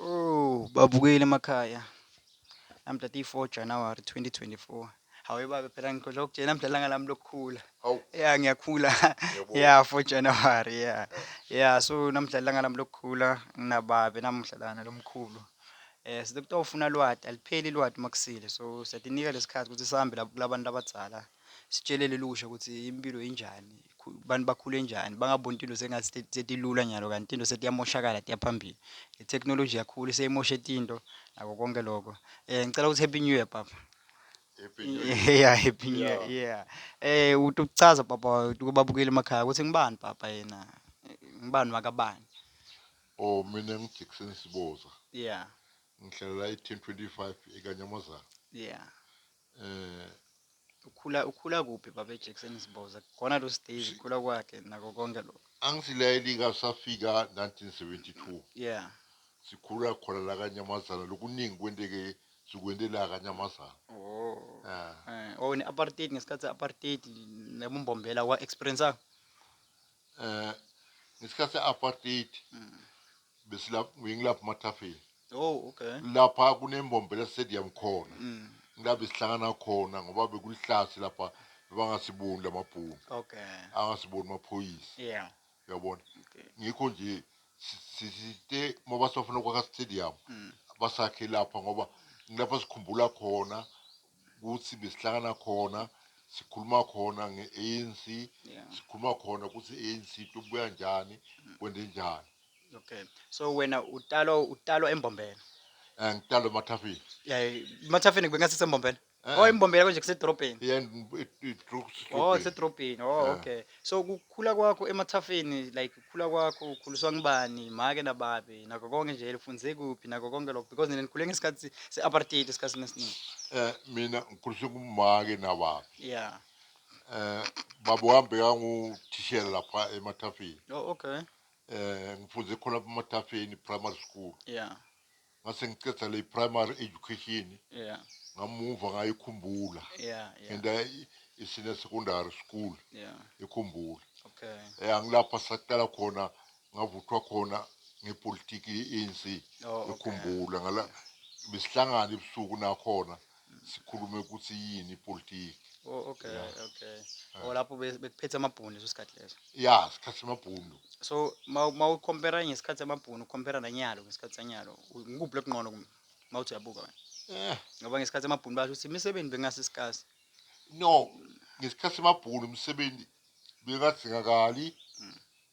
Ooh babukeli emakhaya namhla ti 4 January 2024. Hawe baba phela ngikhohlwa ukutshela namhla ilanga lami lokukhula. Hawu. Yeah ngiyakhula. Yebo. Yeah 4 January yeah. Yeah so namhla ilanga lami lokukhula nginababe namuhla lana lomkhulu. Eh sithi kuthiwa ufuna lwati alipheli lwati makusile so siyadinika lesikhathi ukuthi sihambe lapho kulabantu abadzala. Sitshele lelusha ukuthi impilo injani, abantu bakhule njani, bangaboni tinto sengatsi setilula nyalo kanti tinto setiyamoshakala tiya phambili. Le technology yakhula iseyimoshe tinto nako konke loko. Eh ngicela ukuthi happy new year papa. Happy New Year. Yeah, happy new year. Yeah. Eh uthi ukuchaza papa kubabukeli emakhaya ukuthi ngibani papa yena. Ngibani wakabani. Oh mina ngiJackson Siboza. Yeah. Ngihlalela i-1025 eKanyamazana. Yeah. Ukhula ukhula kuphi baba eJackson Siboza? Khona lo stage ukhula kwakhe nako konke lokho. Angisileli ngasafika 1972. Yeah. Sikhula khona la kaNyamazana lokuningi kwenteke sikwente la kaNyamazana. Oh. Ah. Eh, oh ne apartheid ngesikhathi apartheid nebumbombela wa experience. Eh, ngesikhathi apartheid. Mm. besilapha ngingilapha emathafeni oh okay lapha kunembombela stadium khona mm. ngilapha sihlangana khona ngoba bekulihlathi lapha bebangasiboni lamabhunu okay angasiboni amaphoyisa yeah uyabona okay. ngikho nje sisite ngoba sibafuna kwakha stadium mm. basakhe lapha ngoba ngilapha sikhumbula khona ukuthi besihlangana khona sikhuluma khona nge-ANC yeah. sikhuluma khona ukuthi i-ANC tobuya njani kwende njani okay so wena utalwa utalwa embombela eh ngitalwa emathafeni yeah emathafeni bengathi sembombela eh. oh embombela konje kusedorobheni yeah idrop oh kusedorobheni oh eh. okay so Khula kwakho emathafeni like khula kwakho ukhuliswa ngubani make nababe nakho konke nje lifunze kuphi nakho konke lokho because nina nikhule ngesikhathi se-apartheid esikhathini esiningi Eh mina ngikhuliswe ngumake nababi. ya Eh baba wami bekanguthishela lapha emathafeni. oh okay Eh ngifunde khona lapha emathafeni primary school. ya ngase ngiceda le primary education yeah. ngamuva ngayikhumbula yeah, yeah. and I, isine secondary school yeah. ikhumbula okay. eh, angilapha saqala khona ngavuthwa khona ngepolitiki ye-anc oh, okay. ikhumbula ngala besihlangana ebusuku nakhona sikhulume ukuthi yini ipolitiki Oh okay Yeah. okay. Yeah. Oh lapho be- bekuphethe amabhunu leso sikhathi leso. ya sikhathi semabhundu So ma- ma ucompare ngesikhathi samabhunu ucompare nanyalo ngesikhathi sanyalo u- ngikuphi lokungcono kum- ma uthi uyabuka wena? Eh, Ngoba ngesikhathi samabhunu basho ukuthi imisebenzi bekungase sikasi. no ngesikhathi semabhundu umsebenzi bekadingakali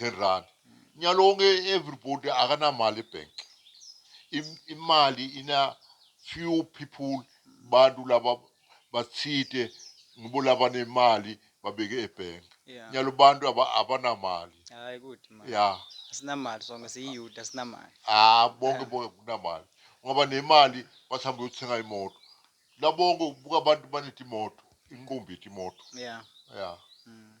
10 rand nyalo wonke everybody akanamali ebank imali ina few people bantu laba bathite ngibo labanemali babeke ebank yeah. nyalo bantu abanamali hayi kuthi mali ya sinamali sonke siyiyuda sinamali ah bonke bonke kunamali ngoba nemali bathamba uyothenga imoto labonke ubuka abantu banethi imoto inqumbi imoto yeah yeah mm.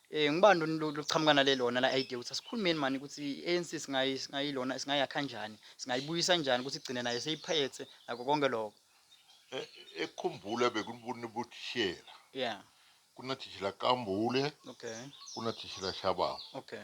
Eh ngibani lona lu- luqhamuka nale lona la idea ukuthi asikhulumeni mani ukuthi i-ANC singayi singayilona singayakha kanjani, singayibuyisa kanjani ukuthi igcine nayo seyiphethe nako konke lokho. Eh, ekhumbula bekunibuni butishela Yeah. kunatishela kambule Okay. kunatishela shabama Okay.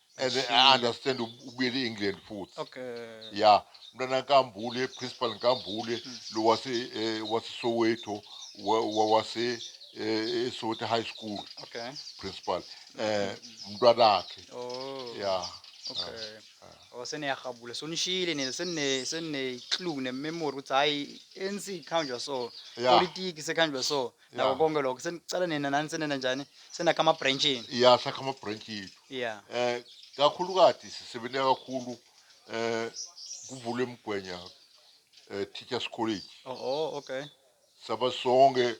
and then I understand ub- ubuyele e-england futhi okay ya mntwana nkambule principal nkambule lo wase eh, wasesoweto wa- wa- wase eh, esoweto high school okay principal eh mntwanakhe oh ya okay oh seniyarhabula so nishiyile nina senine senine clue ne memory ukuthi hayi ANC ikhanjwa so Yeah. politiki sekhanjwa so nako Yeah. konke lokho senicala nina nani senena njani senakha ama-branchini ya sakha ama-branch yethu ya eh kakhulukazi sisebenza kakhulu eh kuvulwe mgwenya eh teachers college oho okay saba sonke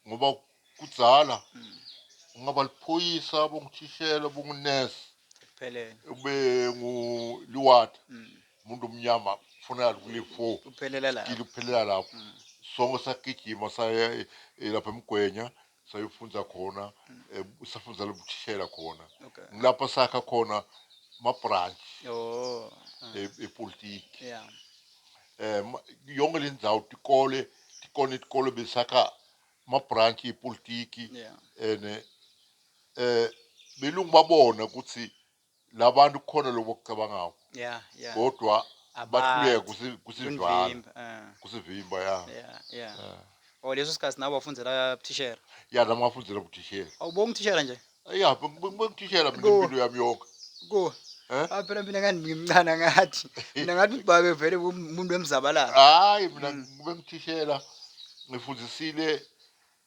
ngoba kudzala ungaba liphoyisa bongithishela bongunesi sekuphelele ube nguliwata Mm. Umuntu omnyama kufuneka kule four Kuphelela lapho. kilo kuphelela lapho Mm. sonke sagijima saya eh, eh, lapha emgwenya sayofunza khona eh, safundzela ubuthishela khona Mm. Okay. ngilapha sakha khona mabranch Oh. ah, eh, epolitiki Yeah. eh ma- yonke le ndzawo tikole tikone tikole besakha mabranch epolitiki Yeah. ene eh belungu babona ukuthi labantu kukhona lokho okucabangako yeah yeah kodwa bahluleka kusi- kusivala Kunivimba, ah, kusivimba ya yeah yeah Eh. o leso sikhathi nawe wafundela buthishera ya nami ngafundela buthishela awubonga uthishera nje ya bengithishela mina Ku- impilo yami yonke ku Eh? ah phela mina kanti ngimncane ngathi mina ngathi ubabe vele umuntu wemzabalala hayi mina bengithishela ngifundisile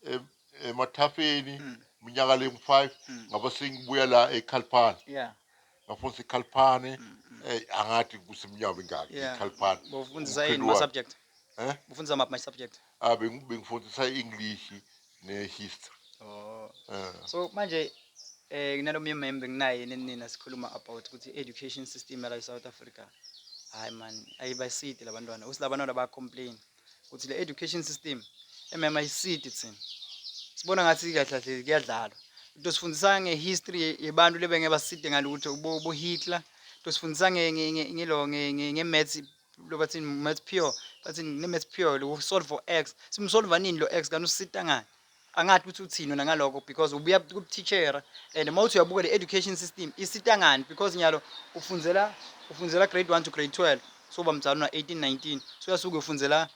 em- emathafeni minyaka lengu-five ngaba sengibuya la ekhalphana yeah ngafundisa ikhalphane ey angathi kusemnyaka mingaki yeah ikhalphane bufundisa yini Umkhwendi ma wakhe. subject Eh? bufundisa maphi my subject Ah, bengi- bengifundisa i-english ne-history oh Eh, so manje eh nalo myemembe nginaye yini nina sikhuluma about ukuthi education system yala eSouth Africa hayi man ayibasidi labantwana usilabantwana ba complain ukuthi le education system emema isidi thina sibona ngathi kahlahlezi kuyadlalwa into sifundisa ngehistory yebantu lebe ngebaside ngalutho bo Hitler into sifundisa nge ngelo nge maths lo bathini maths pure bathini ne maths pure lo solve for x simsolva nini lo x kanti usita ngani angathi ukuthi uthini wena ngalokho because ubuya kubuteacher and uma uthi uyabuka le education system isita ngani because nyalo ufunzela ufunzela grade 1 to grade 12 so bamdala una 18 19 so uyasuke ufunzela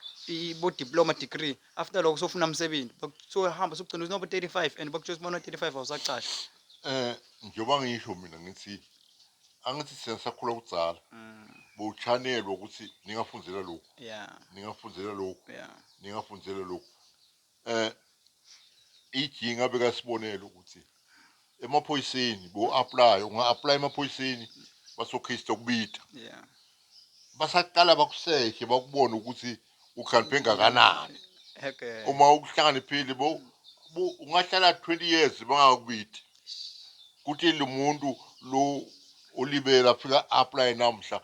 bo diploma degree after lokho sofuna umsebenzi so hamba sokugcina uthi nobo 35 and bakutshoza bona 35 awusacasha eh njengoba ngisho mina ngithi angithi sina sakhula kudzala mm. bowuchanelwa ukuthi ningafundela lokhu yeah ningafundela lokhu yeah ningafundela lokhu Eh ijinga bekasibonela ukuthi emaphoyiseni bo apply unga apply emaphoyiseni basokhista kubita yeah basaqala bakuseshe bakubona ukuthi ukhaliphe engakanani okay uma ukuhlakaniphile bo ungahlala 20 years bangakubiti kuthi lo muntu lo olibela afika apply namhla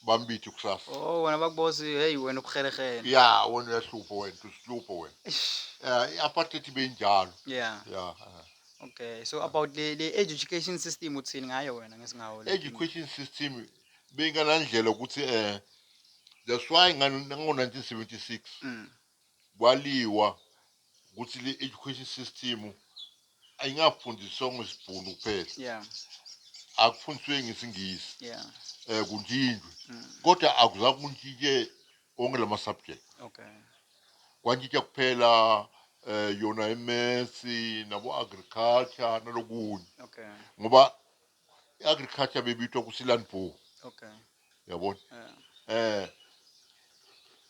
bambithe kusasa Oh wena bakubosi hey wena ubuhelehele. ya wena uyahlupho wena usihlupho wena Eish. Eh, i-apartheid ibe injalo Yeah. ya eh. Okay. So about le le education system uthini ngayo wena ngesingawo le? education system beyinganandlela ukuthi eh that's why ngani ngo-1976 Mm. Kwaliwa ukuthi le education system ayingafundiswa ngesibhunu kuphela. Yeah. Akufundiswe ngesingisi. Yeah. Eh kuntshintshwe. Mm. Kodwa akuzange kuntshintshe onke lama subject. Okay. Kwantshintsha kuphela eh yona imaths nabo agriculture nalokunye. Okay. Ngoba i-agriculture bebitwa ukuthi land bow okay yabona yeah. eh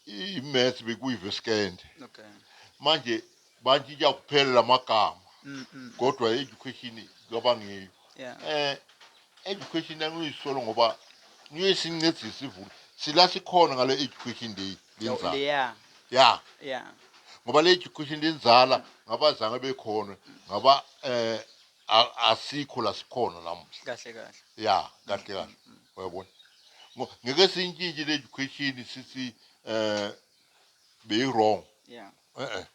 i-math bekuyi-veskende okay manje bantshintsha kuphela la magama mm -mm. kodwa i-education kabangiyo yeah. eh education angiyisolo ngoba ngiyesincedisa ivula sila sikhona ngale education day lenzala yeah yeah yeah ngoba le education lenzala ngabazange bekhona ngaba eh a- asikho la sikhona namuhla kahle kahle ya kahle kahle uyabona Ngo- ngeke siyintshintshe le education sithi eh beyi-wrong yeah e-e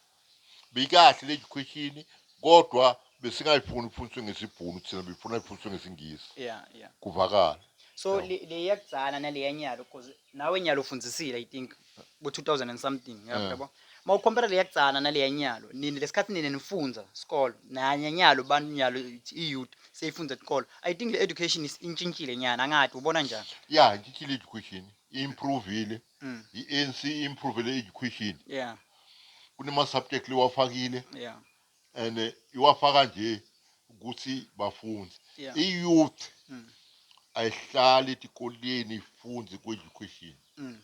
beyikahle le education kodwa besingayifuni ifundiswe ngesibhunu thina befuna ifundiswe ngesingisi yeah yeah kuvakala so le le yakudzala nale yanyalo cause nawe nyalo ufundisile i think ku 2000 and something yabo Yeah. yabo mawukhompera leya kutsana naleya nyalo nini lesikhathi nina nifunza sikolo nanya nyalo bantu nyalo i-youth seyifunza tikolo i think le education is- intshintshile nyana angathi ubona njani ya intshintshile education improvile Mm. i-anc improvile education yeah kunema-subject lewafakile yeah and iwafaka nje ukuthi bafunde yeah. i-youth mm. ayihlali etikoleni ifunde ku-education mm.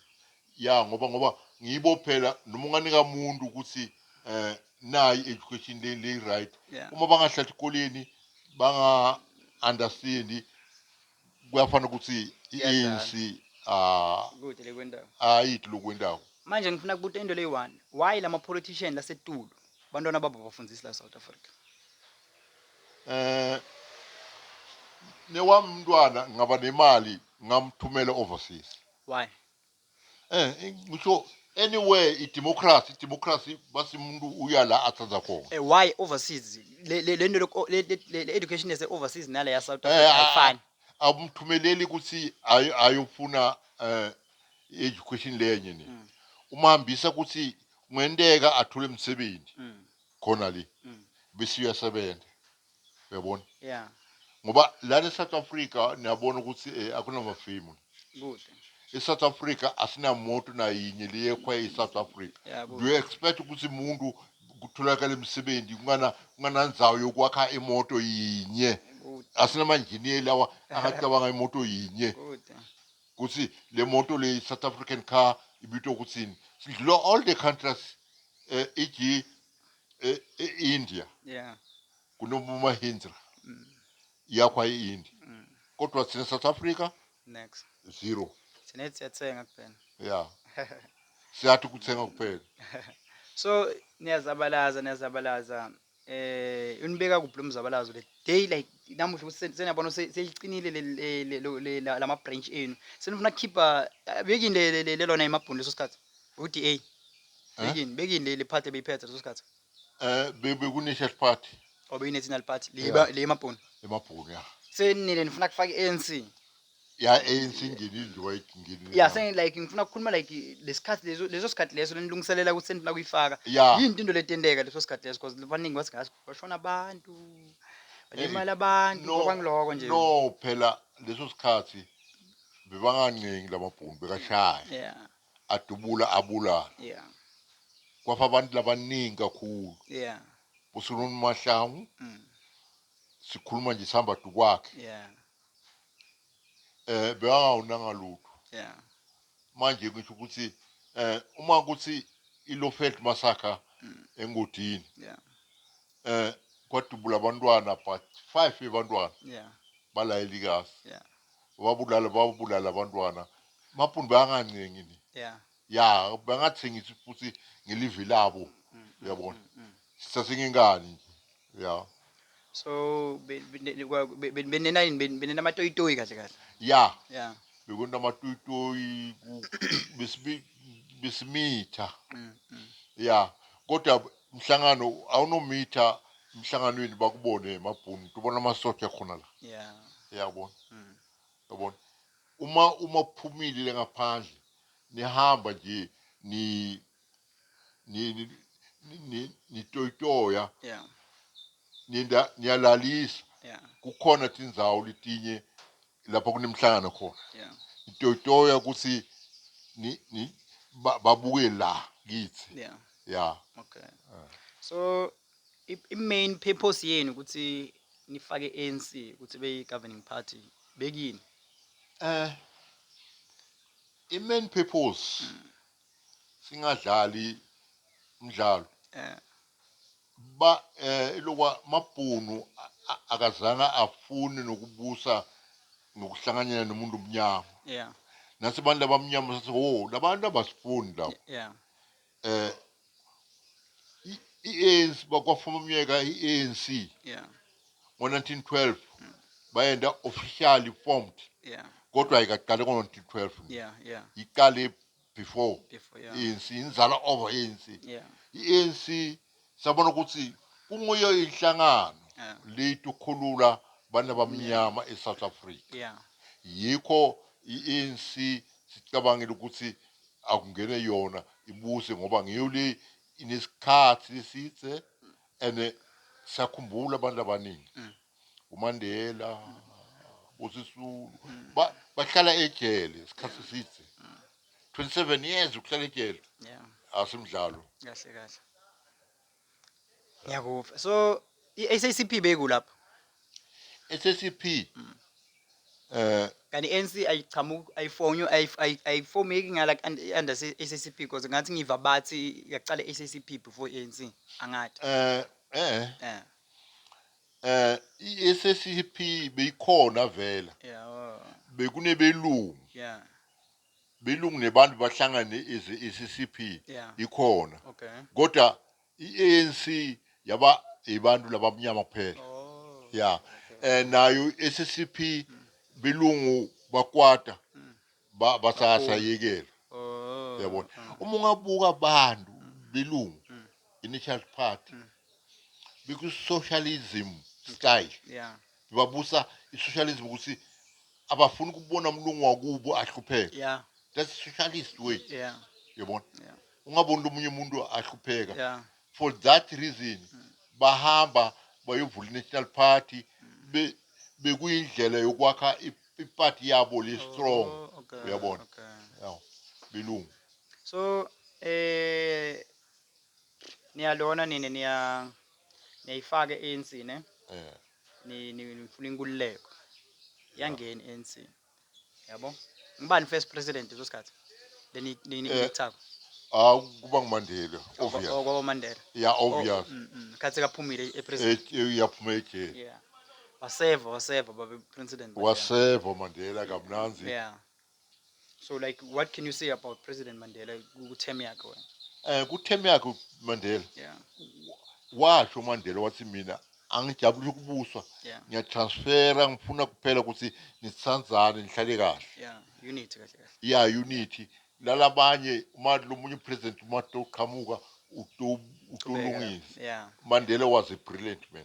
ya ngoba ngoba ngibo phela noma unganika muntu ukuthi eh nayi education le le right yeah. uma bangahlala etikoleni banga understand kuyafana ukuthi i-ANC ayidli lokhu kwendawo manje ngifuna kubuta into leyi-one why lama politician lasetulu bantwana babo bafundisi la south africa eh newami umntwana ngaba nemali ngamthumela overseas why Eh, ngisho anywhere idemocracy, idemocracy basi umuntu uya la athanda khona. Eh, why overseas le le- le nto loku- le- le- le- le education yase overseas nale ya south Eh, africa ah, ayifani Awumthumeleli ukuthi ayo- ayofuna eh education lenye ni. Mm. Umhambisa ukuthi kungenteka athole umsebenzi Mm. khona le. Mm. Bese uyasebenza. uyabona yeah ngoba lana e-south africa niyabona ukuthi um eh, akunamafemu kude e-south africa asinamoto nayinye leyekhwa e-south africa yeah, do you expect ukuthi umuntu kutholakala imisebenzi kungananzawo yokwakha imoto yinye asinamanjiniye lawa angacabanga imoto yinye ukuthi le moto le south african car ibitwa ukuthini sidlula all the countries um eh, eg e-India yeah kunomumahindra mm. yakwa e-India mm. kodwa thina South Africa next zero thina siyathenga kuphela yeah siyathi kuthenga kuphela so niyazabalaza niyazabalaza eh unibeka kuphi lo mzabalazo le day like namuhla seniyabona seliqinile lama branch enu senifuna kukhipha bekini lelona emabhuni leso sikhathi UDA bekini bekini le le party beyiphethe leso sikhathi. Eh be- bekune-church party Obe yi national party le Yeah. le emabhunu. emabhunu ya Senile nifuna kufaka iANC. ya anc ingenile nje wayingenile Yeah, sen like ngifuna ukukhuluma like lesikhathi leso leso sikhathi leso lenilungiselela ukuthi senifuna kuyifaka. Yeah. Yini into letenteka leso sikhathi leso because baningi bathi ngathi bashona abantu. Balimala abantu No, kwangiloko nje. no phela leso sikhathi bebangancengi lamabhunu bekashaya Yeah. adubula abulala yeah kwafa abantu labaningi kakhulu yeah usulona umahlangu mm. sikhuluma nje sihamba dukwakhe yeah eh bewawunanga lutho yeah manje ngisho ukuthi eh uma kuthi ilofeld massacre mm. engodini yeah eh kwadubula abantwana but five yabantwana yeah balayelikazi yeah babulala babulala abantwana mapuni bayangancengi ni yeah ya bangathengisi futhi ngelivi labo mm, mm, mm, uyabona sithathe ngengane nje ya so benena yini benena amatoyitoyi kahle kahle ya yeah bekona amatoyitoyi besimitha ya kodwa Mhlangano awunomitha emhlanganweni bakubone emabhunu tubona amasosha khona la yeah yabona mm. yabona uma uma phumile le ngaphandle nihamba nje ni ni ni ni nitoyitoya yeah ninda niyalalisa yeah kukhona tindzawo letinye lapho kunemihlangano khona Yeah. itoyitoya ukuthi ni, ni, ba, babuke la kithi Yeah. ya Okay. So i, i main purpose yenu ukuthi nifake ANC ukuthi beyi governing party bekini. eh i-main purpose singadlali umdlalo Eh. Ba eh ilokwa mabhunu akazange afune nokubusa nokuhlanganyela nomuntu omnyama yeah nase abantu abamnyama sathi wo oh, labantu abasifuni lapho yeah eh i-ANC bakwafuma umyeka i-ANC yeah ngo-1912 mm. bayenda officially formed yeah kodwa ayikaqali ngo-1912 yeah yeah iqale before Before, yeah. i-ANC inizala over i-ANC Yeah. i-ANC sabona ukuthi kunguyo inhlangano Yeah. leyitukhulula abantu abamnyama e-South Africa Yeah. yikho i-ANC sicabangile ukuthi akungene yona ibuse ngoba ngiyo le inesikhathi lesidze and sakhumbula abantu abaningi uMandela uSisulu ba- bahlala ejele isikhathi eside 27 years ukuhlala ejele yeah asimdlalo kahle kahle ngiyakupha so i-SACP beyikulapho SACP eh kanti i-ANC ayichamuki ayifonywe ayif- ayi- ayifomeki ngala under SACP because ngathi ngiva bathi yaqala i-SACP before i-ANC angathi eh eh eh Eh iSSCP beyikhona vela. Bekunebelungu. Yeah. Belungu nebantu bahlangane as iSSCP ikhona. Kodwa iANC yaba ibantu labamnyama kuphela. Oh. Yeah. Eh nayo iSSCP belungu bakwata. ba- basasayekela Oh. yabona Ah. uma ungabuka abantu belungu Mm. initial party Mm. beku-socialism style Yeah. babusa i-socialism ukuthi abafuni ukubona umlungu wakubo ahlupheka Yeah. that's socialist way Yeah. yabona Yeah. ungaboni lomunye umuntu ahlupheka Yeah. for that reason Mm. bahamba bayovula i-national party be- bekuyindlela yokwakha i- iparty yabo li strong Oh, okay, uyabona okay. yawo belungu So eh niyalona nini niya niyayifaka ANC ne eh ni ni- nifuna inkululeko. Yangeni ANC. Yabo? Ngibani first president leso sikhathi? Leni leni Eh, ithako. ah kuba ngumandela obvious Okwabo Mandela. ya obvious Mm, mm. Khathi kaphumile e president. Eh, eh, uyaphuma ejele Yeah. Waseva, waseva baba president. but yeah. waseva umandela kamnanzi Yeah. So like what can you say about President Mandela ku-term yakhe wena? um kutheme yakhe umandela Yeah. washo umandela wathi mina angijabulisa ukubuswa Yeah. ngiyatransfera ngifuna kuphela ukuthi nisithandzane nihlale kahle Yeah. Unity kahle kahle. ya unity lalabanye uma lomunye upresident uma toqhamuka uto- utolungisa Yeah. mandela was a brilliant man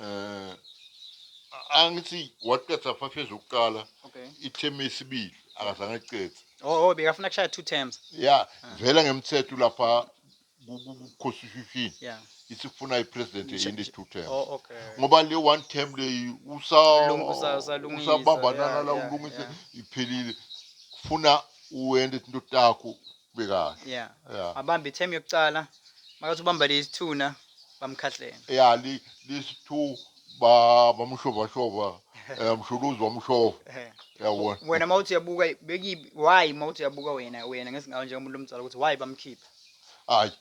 Eh angithi waqeda five years yokuqala Okay. ithemu esibili akazange aqede Oh, oh bekafuna kushaya two terms. ya vela ngemthetho lapha ku- ku- ku- constitution Yeah. isifuna ipresident Nje- eyinde two terms Oh, okay. ngoba le one term leyi usa- Lung- usa- usalungisa, usabambanana yeah, la yeah, ulungise yeah. iphelile kufuna uwende into takho bekahle yeah yeah abambe ithemu yokucala makathi ubamba lezi thuna bamkhahlele yeah li this two ba bamushova shova eh mshuluzi wamushova Eh. yabona wena mawuthi uyabuka beki why mawuthi uyabuka wena wena ngesingawo njengomuntu omdala ukuthi why bamkhipha hayi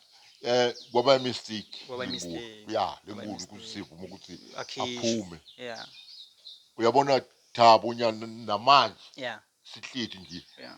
eh kwaba mistake Kwaba lenkulu. mistake. ya Kwaba lenkulu mistake. kusivuma ukuthi Akhishwe. aphume yeah uyabona thabo nyana namanje yeah sihleti nje yeah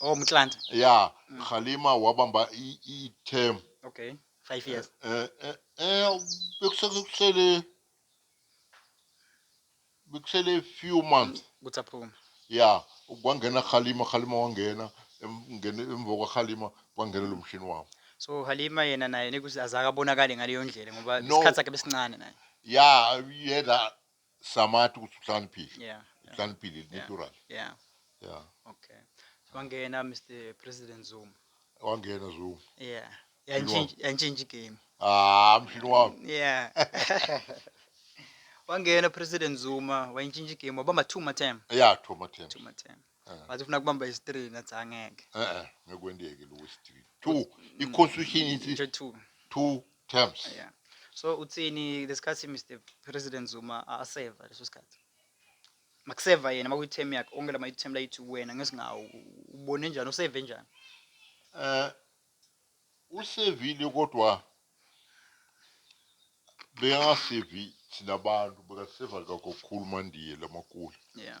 Oh Mtlanta. Yeah, mm. Khalima wabamba i-term. Okay, 5 years. Eh eh eh bekusele bekusele few months. Ukuthi aphume. Yeah, kwangena Khalima, Khalima wangena ngene emva kwa Khalima kwangena lo mshini wabo. So Halima yena naye nikuthi azakabonakali ngaleyo ndlela ngoba isikhathi sakhe besincane naye. Yeah, yena Samati ukuthi uhlaniphile. Yeah. Uhlaniphile yeah. natural. Yeah. Yeah. Okay. Wangena Mr President Zuma. Wangena Zuma. Yeah. Yantshintsha yantshintsha game. Ah, mshini wami. Yeah. wangena president zuma wayintshintsha igame wabamba two matem ya two matem two matem eh. wathi ufuna kubamba isthree nathi angeke e-e ngekwendeke lowo isthree two i-constitution ithi two two terms Yeah. So uthini lesikhathi Mr President Zuma a- aseva leso sikhathi? Makuseva yena makuyi term yakhe onke lama term la yithi wena ngesingawo u- ubone njani useve njani? eh usevile kodwa beyangasevi thina abantu bekaseva kakhulu mandiye lamakula Yeah.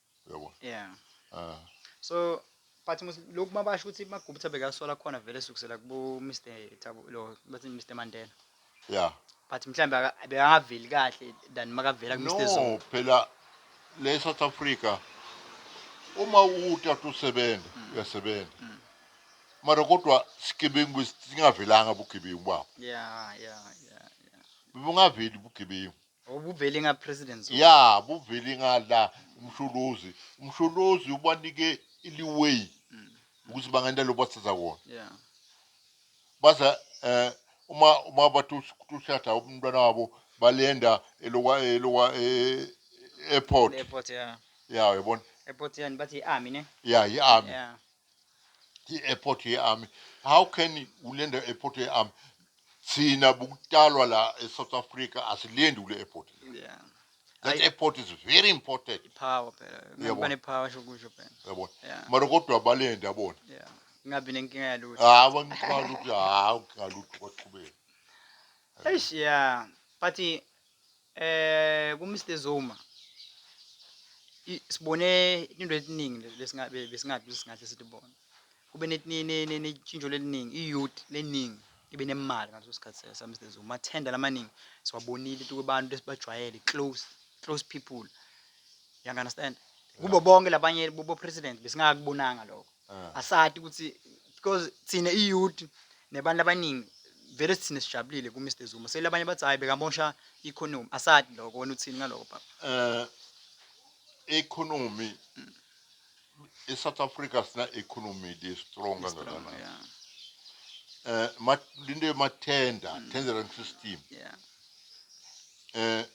uyabo yeah ah so but lokhu mabasho ukuthi magubutha bekasola khona vele sukusela kubo Mr Thabo lo bathi Mr Mandela yeah but mhlambe bekangaveli kahle than makavela ku Mr Zulu no phela le South Africa uma utata usebenza mm. uyasebenza mm. mara kodwa sigebengu singavelanga bugebengu babo yeah yeah yeah bebungaveli bugebengu Oh, buveli nga president zulu. ya buveli nga la umsholozi umsholozi ubanike iliway mm. ukuthi bangenda lo bathatha kona yeah. baza eh uma uma batushada umntwana wabo balenda elokwa elokwa eh, airport airport yeah yeah yabona airport yani bathi i-army ne yeah i-army yeah i-airport ye-army how can ulenda airport ye-army thina bukutalwa la e-south africa asilendi kule airport yeah that Ayi- airport is very important ipower phela Yebo. ngeke banepower sho kusho phela yabona Yeah. mara kodwa balenda yabona yeah ingabi nenkinga yalutho hawu angiqala ukuthi hawu ngalutho kwaqhubeka eish yeah but Eh ku Mr Zuma sibone into etiningi lesingabe besingathi singahle sithi bona kube netshintsho leliningi i-youth leningi ibe nemali ngaleso sikhathi sa Mr Zuma amathenda lamaningi siwabonile ukuthi kubantu esibajwayele close close people you understand kubo bonke labanye kubo president besingakubonanga lokho Ah. asati ukuthi because thina iyouth nebantu abaningi vele sithina sijabulile ku Mr Zuma sele abanye bathi hayi bekamosha economy asati lokho wena uthini ngaloko baba eh economy eSouth Africa sina economy le strong kangakanani yeah eh ma- into yemathenda Mm. tendering system yeah eh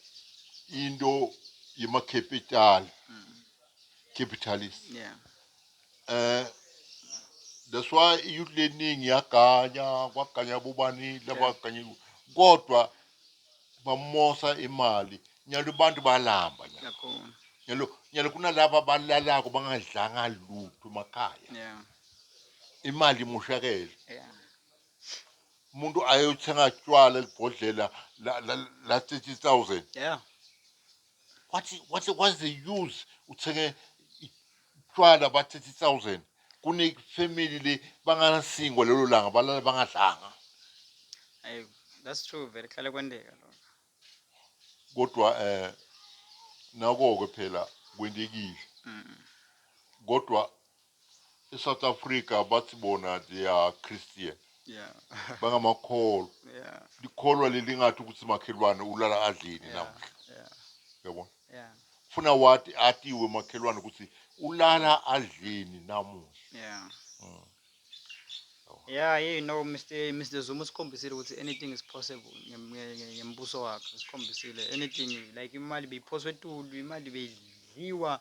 into yemacapital Mm. capitalist yeah Eh that's why iyouth leningi yaganya kwaganya bobani labaganyelwa kodwa bamosa imali nyalo abantu balamba nyalo Yakhona. nyalo nyalo kunalaba balalako bangadlanga lutho emakhaya Yeah. imali imoshakele Yeah. umuntu ayothenga tshwala libhodlela la la, la 30000 Yeah. What's what's what's the use uthenge utshwala ba 30000 kune family le banganasingwa lelo langa balala bangadlanga. Ayi, that's true vele kuhlale kwenteka lokho. Kodwa eh nako ke phela kwentekile. Mm. Kodwa eSouth Africa bathi bona they are Christian yeah bangamakholwa yeah likholwa leli ngathi ukuthi makhelwane ulala adleni yeah namuhla yeah yabona yeah funa wathi atiwe makhelwane ukuthi ulala adleni namuhla yeah mm. Yeah, yeah, you know Mr Mr Zuma usikhombisile ukuthi anything is possible ngembuso wakhe usikhombisile anything like imali beyiphoswe etulu imali beyidlile dliwa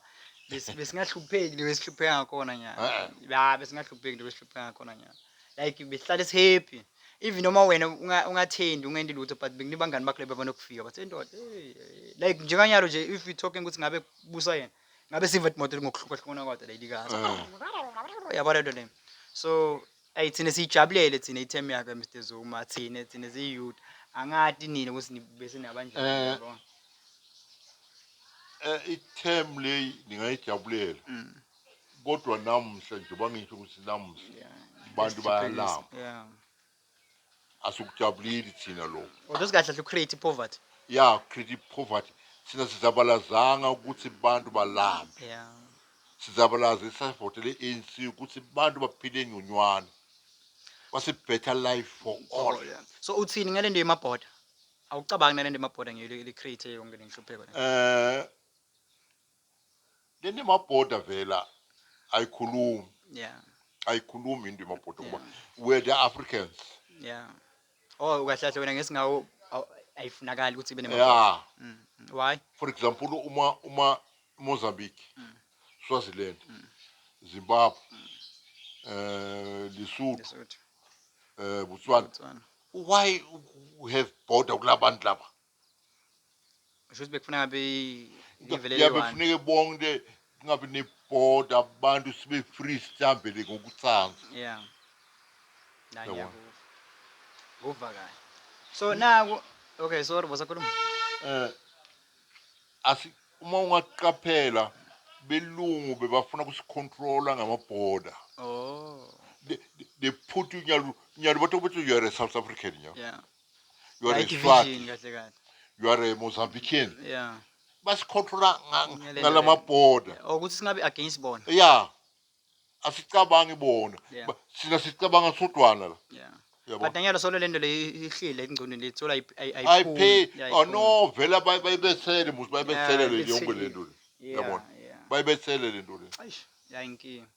bes- besingahlupheki leyo esihlupheka ngakhona nyana Eh. ya besingahlupheki leyo esihlupheka ngakhona nyana like besihlale sihappy even noma wena unga- ungathendi ungendi lutho but bekunika abangani bakho leba banokufika bathi "Hey, ndoda hey, hey." like njenganyalo nje if we talking ukuthi ngabe kubusa yena ngabe siva imoto ngokuhlukahlukana kwayo leyilikazi Ah. yabo lento leyo so Ayi thina siyijabulele thina i-term yakhe Mr Zuma thina thina ziyiyouth angati nina ukuthi ni- bese nabanjani Eh. yabona? Eh, i-term leyi ningayijabulela Mm, kodwa namuhla njengoba ngisho ukuthi namuhla yeah. Abantu Just to bayalamba. police, yeah. asikujabuleli thina lokho Kodwa usikahle kahle ucreate poverty. ya create poverty thina sizabalazanga ukuthi abantu balambe Yeah. sizabalaze sasivotele i-anc ukuthi abantu baphile ngconywana wase better life for all Oh, yeah. So uthini ngalento yemabhoda? Awucabangi nalento yemabhoda ngiyile ili create yonke lenhlupheko le. eh Lento imaboda vela ayikhulumi. Yeah. Ayikhulumi into imaboda kuba we're the Africans. Yeah. Oh ukahlahle wena ngesingawo aw- ayifunakali ukuthi ibe nemaboda. Yeah. Mm. Why? For example uma uma Mozambique, Swaziland, Zimbabwe, eh Lesotho, Lesotho. eh Botswana. Botswana. Why u- u- have border kulabantu laba? Ngisho ukuthi bekufuna ngabe live leli yabe one. kufuneke bonke kungabi nebhoda abantu sibe free sihambele ngokutsanza Yeah. La Yabona. ngiyakuva. Kuva kahle. So naku okay sorry bosakhuluma. eh asi uma ungaqaphela belungu bebafuna kusicontrola ngamaborder Oh. they, they put you nyalo nyalo bato ukuthi you are a south african nyalo Yeah. you are a White Swati, Vision kahle kahle. you are a Mozambican. Yeah. Basicontrola nga- Ngale ngala ndlela. maborder. Or ukuthi singabe against bona. Yeah. Asicabangi bona. Yeah. Ba- Sina sicabanga sodwana la. Yeah. Yabo. But nanyalo solo lento le ihlile engcondweni lethu la I pay. Oh no, vela bay baybesele muzi baybesele Yeah, le yonke ibesele. lento le. Yeah. Yabona. Yeah. Baybesele lento le. Eish, yayinkinga.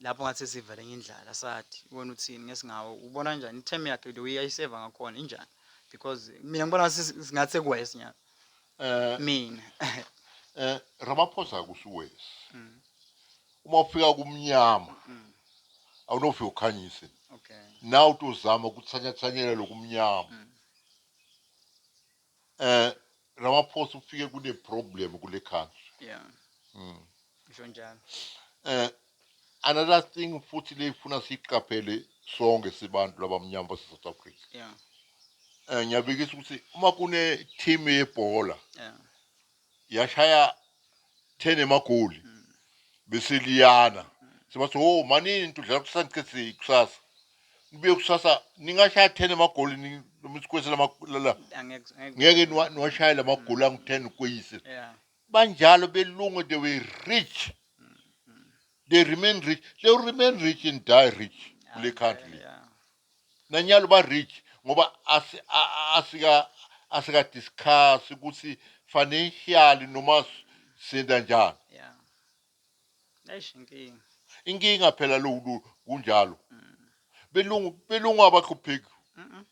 lapho ngathi sesivele ngindlala sathi ubona uthini ngesingawo ubona njani i-term yakhe the way ayiseva ngakhona injani because mina ngibona ngathi sekuwesi nyana eh, mina eh Ramaphosa akusiwesi mm. uma ufika kumnyama mm. awunofika ukhanyise okay nawu tozama ukuthanyathanyela lokumnyama mm. Eh Ramaphosa ufike kune problem kule country. Yeah. Mm. Ngisho njalo. Eh another thing futhi leyifuna siqaphele sonke sibantu labamnyama base South Africa. Yeah. Eh ngiyabikisa ukuthi uma kune team yebhola. Yeah. yashaya 10 emagoli bese liyana sebathi oh manini tudlala kusankisi kusasa nibuye kusasa ningashaya 10 emagoli ni- noma isikwesi lama- la- la- Angeke- angeke- ngeke niwa- niwashayele amagoli angu-10 ukweyise Yeah. banjalo belungu they were rich they remain rich they will remain rich and die rich kule country le Yeah. Nanyalo ba rich ngoba asi a- a- asika asika discuss ukuthi financial noma s- senda njani. ya eish inkinga Inkinga phela lo lo kunjalo. Belungu belungu abahlupheki. Mm-mm.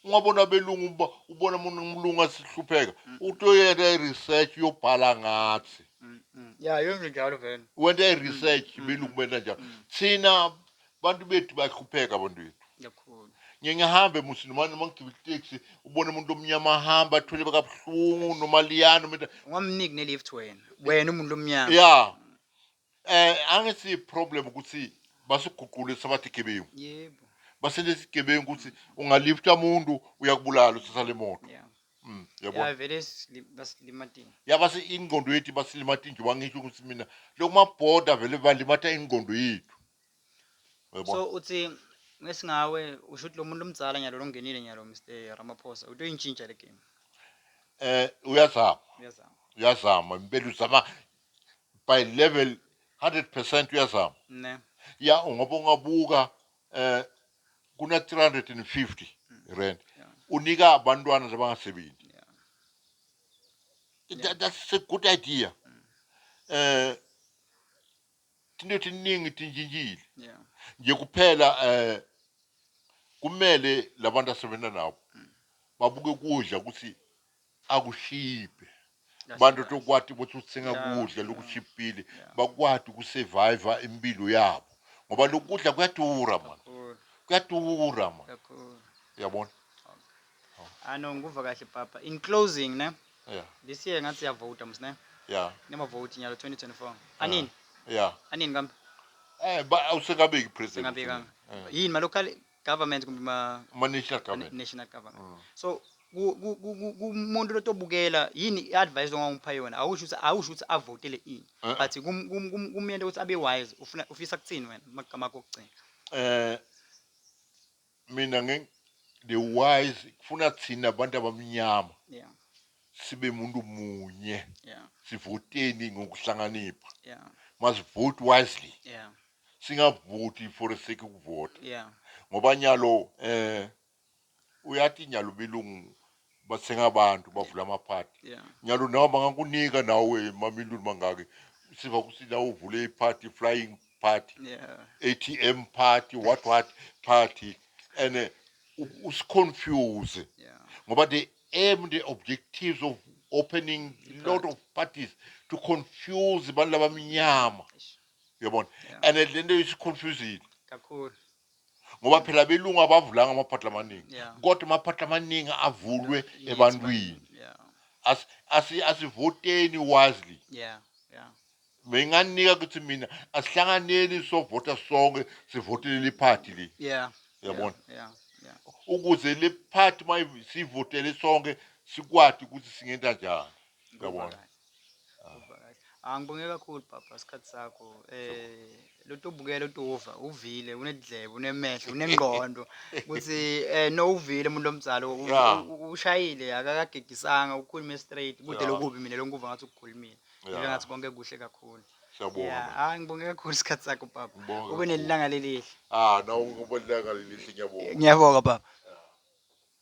Ungabona belungu uba- ubona umuntu umlungu asihlupheka. Utoyena i research yobhala ngathi. Mm-mm. ya yonke njalo vele Wente i research belungu benda njalo. Thina Bantu bethu bayahlupheka abantu bethu. Kakhulu. Ngiye ngihambe musi noma noma ngigibela itaxi ubone umuntu omnyama ahamba athwele bakabuhlungu noma liyana umuntu Ungamniki ne lift wena. Wena umuntu omnyama. ya eh angisi problem ukuthi basiguqule sabathi gebengu. Yebo. Basenze isigebengu ukuthi ungalifta umuntu uyakubulala usisa le moto. Yeah. Mm, yabona. Yeah, vele sili- basilimatile. yabase ingqondo yethu basilimata inje wangisho ukuthi mina lokumabhoda vele balimata ingqondo yethu Uyabona? so uthi ngesingawe usho ukuthi lo muntu omdzala nyalo longenile nyalo mr ramaphosa utoyintshintsha le game eh uyazama uyazama uyazama impela uzama by level 100% uyazama ne ya ngoba ungabuka eh kuna 350 rand Yeah. unika abantwana labangasebenzi Yeah. That- that's a good idea eh Tinto tiningi tintshintshile. Yeah. Nje kuphela eh kumele labantu asebenza nabo mm. babuke kudla ukuthi akushiphe. Abantu tokwati ukuthi uthenga kudla lokushipile bakwati ukusurvive impilo yabo. Ngoba lokudla kuyadura man. Kuyadura man. Yabona? Oh. Ah no ngikuva kahle papa. In closing ne. Yeah. This year ngathi siyavota mus ne. Yeah. Nema vote nyalo 2024. Anini? Yeah. Anini kambe? Eh ba awusekabeki president. Ngabeka. Eh. Yini ma local government kumbe ma ma national government. National government. Mm. So kumuntu lotobukela yini i-advice ongangipha yona awusho ukuthi awusho ukuthi avotele ini eh. but kumyenta ukuthi abe wise ufuna ufisa kuthini wena magama akho okugcina eh Mina nge the wise kufuna thina abantu abamnyama yeah sibe muntu munye yeah sivoteni ngokuhlanganipha yeah must vote wisely yeah singavoti for the sake ukuvota yeah ngoba nyalo eh uyathi nyalo belungu bathenga abantu bavula amaphathi yeah. nyalo nawo bangakunika nawe mamiliyoni mangaki siva ukuthi nawe uvule iphathi flying party yeah. atm party what what party and eh, usiconfuse yeah. ngoba the aim the objectives of opening a lot of parties to confuse abantu labamnyama yabona and eh, le nto isiconfusile kakhulu ngoba phela abelungu abavulanga amaphatla amaningi Yeah. kodwa amaphatla amaningi avulwe Yithi ebantwini bani- Yeah. As- asi- asivoteni wisely Yeah. Yeah. benganika kuthi mina asihlanganeni sovota sonke sivotele le party le Yeah. Yabona. Yeah. Yeah. ukuze le party uma sivotele sonke sikwati ukuthi singenta njani Ngizwa Yabona. kahle. Ah. Ngizwa kahle. Ah ngibonge kakhulu papa isikhathi sakho. Eh lotobukela utova uvile unedlebe unemehlo unengqondo ukuthi eh no uvile umuntu omzalo u- Yeah. u- u- ushayile akakagigisanga ukhulume straight kude Yeah. lokubi mina lonkuva ngathi ukukhulumile. Ngibe Yeah. ngathi konke kuhle kakhulu. Siyabonga. Yeah, man. ah ngibonge kakhulu isikhathi sakho papa. Ngibonge Ube kakhulu. nelanga lelihle. Ah, nawu ngobaleka lelihle ngiyabonga. Ngiyabonga papa.